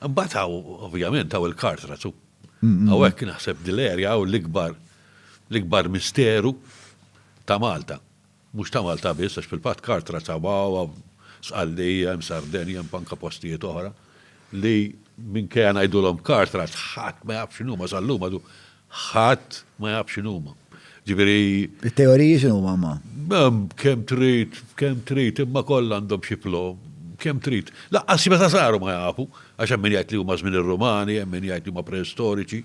Mbagħad hawn ovvjament hawn il-kartra tu. Hawnhekk naħseb dil-erja hawn l-ikbar l-ikbar misteru ta' Malta. Mhux ta' Malta biss għax fil-fatt kartra ta' wawa sqallija, hemm Sardenja, hemm anka postijiet oħra li minkejja ngħidulhom kartra ħadd ma jaf x'inhuma sal-lum għadu Ħadd ma jaf x'inhuma. Ġifieri. It-teoriji x'inhuma ma? Kemm trid, kemm trid, imma kollha għandhom xi flo, kemm trid. Laqqas meta saru ma jafu, għax hemm min jgħid li huma żmien ir-Rumani, hemm min jgħid li huma preistoriċi.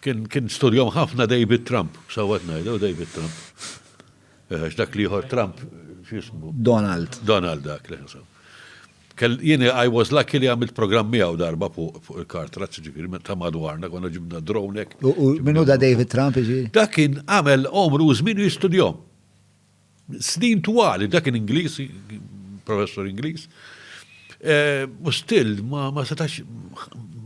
Kien studjom ħafna David Trump, sewwa qed ngħidha, David Trump. Eh, għax dak l-ieħor Trump, x'ismu? Donald. Donald dak li ħasab. Jien I was lucky li għamilt programm miegħu darba fuq il-car trucks, jiġifieri ta' madwarna, konna ġibna drone hekk. U min hu da David Trump jiġifieri? Dak kien għamel għomru u żmienu jistudjahom. Snin twal, dak kien Ingliż, professur Ingliż. U still ma setax.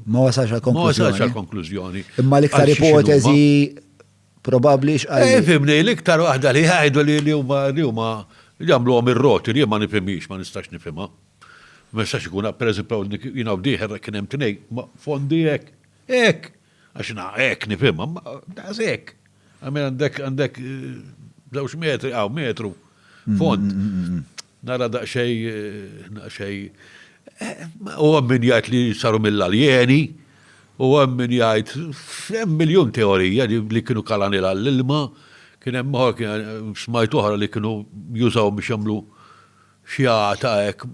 Ma wasalx għall-konklużjoni. Ma wasalx għall-konklużjoni. Imma l-iktar ipoteżi Probabbli x'qal. Eh, fimni, l-iktar waħda li jgħidu li li huma li huma jagħmluhom ir-roti li ma nifhimhiex, ma nistax nifhimha. Ma nistax ikun per eżempju jiena u dieħer kien hemm tnej, ma fondi hekk, hekk, għax na hekk nifhimha, ma daqs hekk. Għamil għandek għandek eh, żewġ metri, għaw metru, fond. Mm, mm, mm, Nara daqsxejn, daqsxejn, u hemm min jgħid li saru mill-aljeni, u hemm min jgħid, hemm miljun teorija li kienu kalaniel għall-ilma, kien hemm oħra, smajt oħra li kienu jużawhom biex jagħmlu xi għata hekk,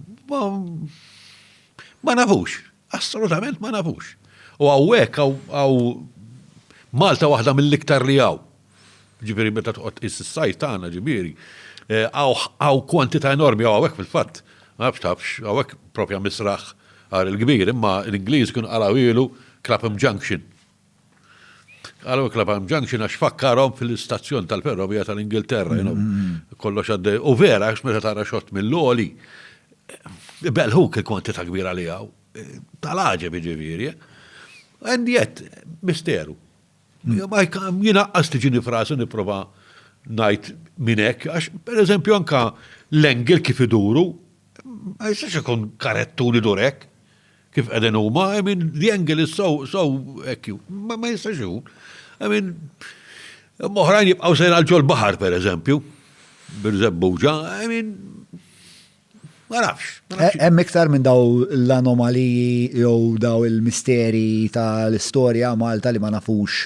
ma nafux. Assolutament ma nafux. U hawnhekk hawn Malta waħda mill-iktar li hawn. Ġifieri meta toqgħod tqis is-sajt tagħna ġifieri, eh, hawn kwantità enormi hawn hawnhekk fil-fatt. Ma nafx tafx, hawnhekk propja misraħ għar il-kbir, imma l-Ingliż kien qalgħu ilu Clapham Junction. Għalhekk Clapham Junction għax fakkarhom fil-istazzjon tal-ferrovija tal-Ingilterra, you know, mm-hmm. kollox għadde. U vera, għax meta tara xott mill-loli, belħuk il-kwantità kbira li għaw, tal-ħaġa biġiviri, and yet, misteru. Mm. Ma jina għas tiġini frasi niprofa najt minnek, għax per eżempju anka l-engel kif iduru, ma jistax ikun karettu li durek. Kif qegħdin huma, I mean, the angle is so, so, ekju, ma ma jistax ikun. I mean, moħrajn jibqgħu sejra għal ġol baħar, per eżempju, bir-żebbuġa, I mean, ma nafx. ma nafx. Hemm iktar minn daw l-anomaliji jew daw il-misteri tal-istorja Malta li ma nafux